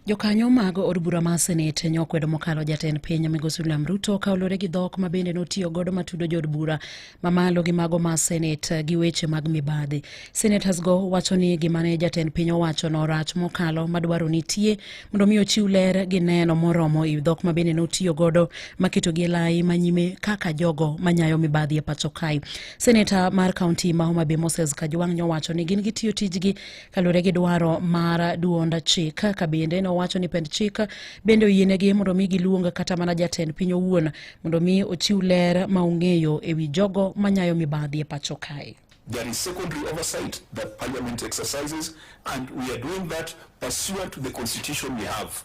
Jokanyo mag od bura mar Senate ne okwedo mokalo jatend piny Migosi William Ruto ka olure gi dhok ma bende notiyo godo matudo jood bura mamalo gi mago ma Senate gi weche mag mibadhi. Senators go wacho ni gima ne jatend piny owacho no rach mokalo madwaro nitie mondo mi ochiw ler gi neno moromo e dhok ma bende notiyo godo maketo gi lai manyime kaka jogo manyayo mibadhi e pacho kae. Senator mar kaunti ma Homa Bay Moses Kajwang' nyowacho ni gin gitiyo tijgi kalure gi dwaro mar duond chik ka bende nowacho ni pend chik bende oyienegi mondo mi giluong kata mana jatend piny owuon mondo mi ochiw ler ma ong'eyo e wi jogo manyayo mibadhi e pacho kae There is secondary oversight that parliament exercises and we are doing that pursuant to the constitution we have.